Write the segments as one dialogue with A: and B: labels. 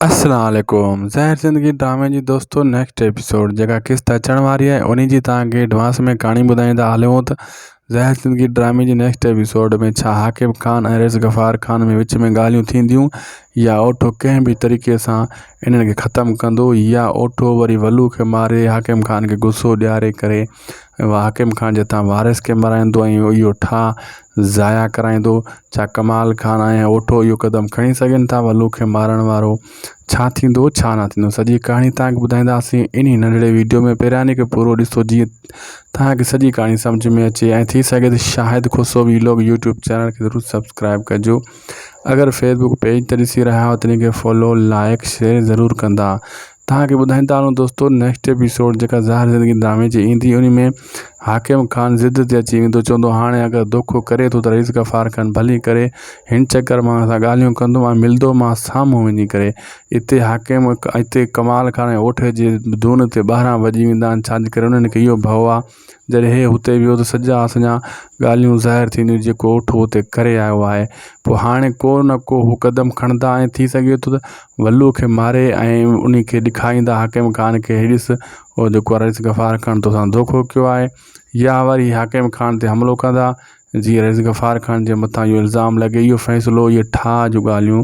A: السلام عليڪم زهر زندگي ڊرامي جي دوستو نيڪسٽ ايپيسوڊ جيڪا قسط اچڻ واري آهي انهي جي توهان کي ايڊوانس ۾ ڪهاڻي ٻڌائيندا هليون ته زهر زندگي ڊرامي جي نيڪسٽ ايپيسوڊ ۾ ڇا حاڪم خان ۽ رئيس غفار خان ۾ وچ ۾ ڳالهيون ٿينديون يا اوٺو ڪنهن به طريقي سان انهن کي ختم ڪندو يا اوٺو وري ولو کي ماري حاڪم خان کي غصو ڏياري ڪري ۽ اهو حاڪم خان جي هٿان وارث کي مرايندو ۽ اهو ٺاهه ضايع ڪرائيندو ڇا ڪمال خان ۽ اوٺو اهو قدم کڻي سگهن ٿا ولو کي مارڻ وارو ڇا ٿيندو ڇا نه ٿيندو سڄي ڪهاڻي تهانکي ٻڌائينداسين انهي ننڍڙي ويڊيو ۾ پهرياني کي پورو ڏسو جيئن تهانکي سڄي ڪهاڻي سمجهه ۾ اچي ۽ ٿي سگهي ته Shahid Khoso vlog YouTube channel کي ضرور سبسڪرائب ڪجو اگر فيسبوڪ پيج تي ڏسي رهيا آهيو ته ان کي فالو لائڪ شيئر ضرور ڪندا توهان کي ٻڌائين ٿا هلون دوستو نيڪسٽ ايپيسوڊ جيڪا زهر زندگي ڊرامي جي ايندي ان ۾ حاڪم خان ضد تي اچي ويندو چوندو هاڻي اگر دوکو ڪري ٿو ته رئيس غفار خان ڀلي ڪري هن چڪر مان اسان ڳالهيون ڪندو ۽ ملندو مان سامهون وڃي ڪري اتي حاڪم اتي ڪمال خان ۽ اوٺ جي دون تي ٻاهران وڄي ويندا آهن ڇا جي ڪري انهن کي اهو ڀئو آهي جڏهن هي هتي ويو ته سڄا اسانجا ڳالهيون ظاهر ٿينديون جيڪو اٺ هو هتي ڪري آيو آهي پوء هاڻي ڪو نه ڪو هو قدم کڻندا ۽ ٿي سگهي ٿو ته ولوء کي ماري ۽ انهي کي ڏکائيندا حاڪم خان کي هي ڏس او جيڪو رئيس غفار خان توسان ڌوڪو ڪيو آهي يا وري حاڪم خان تي حملو ڪندا جيئن رئيس غفار خان جي مٿان اهو الزام لڳي اهو فيصلو اهي ٺاهه جون ڳالهيون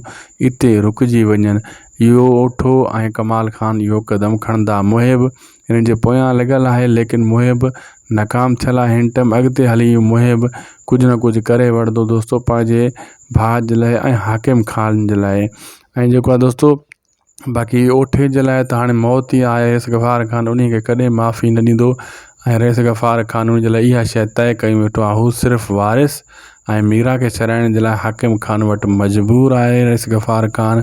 A: اتي رڪجي وڃن اهو اٺو ۽ ڪمال خان اهو قدم کڻندا محب هنن جي پويان لڳل آهي ليڪن موهي به ناڪام ٿيل آهي هن ٽئم اڳتي هلي موهي به ڪجهه نه ڪجهه ڪري وڙهندو دوستو پنهنجي ڀاء جي لاء ۽ حاڪم خان جي لاء ۽ جيڪو آهي دوستو باقي اوٺي جي لاء ته هاڻي موت ئي آهي رئيس غفار خان ان کي ڪڏهن معافي نه ڏيندو ۽ رئيس غفار خان ان جي لاء اها شي طئي ڪئي ويٺو آهي هو صرف وارث ۽ ميرا کي ڇڏائڻ جي لاء حاڪم خان وٽ مجبور آهي رئيس غفار خان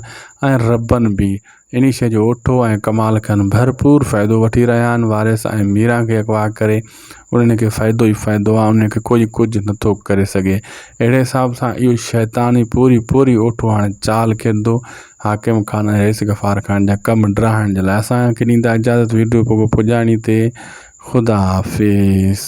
A: ۽ ربن بي انيس جو اٺو ۽ ڪمال کن ڀرپور فائدو وٺي رهيا آهن وارث ۽ ميران کي اغوا ڪري انهن کي فائدو ئي فائدو آهي انهن کي ڪوئي ڪجهه نٿو ڪري سگهي اهڙي حساب سان اهو شيطان ئي پوري پوري اٺو هاڻي چال کيڏندو حاڪم خان ۽ رئيس غفار خان جا ڪم ڊاهڻ جي لاء اسان کي ڏيندا اجازت ويڊيو پڳو پڄاڻي تي خدا حافظ.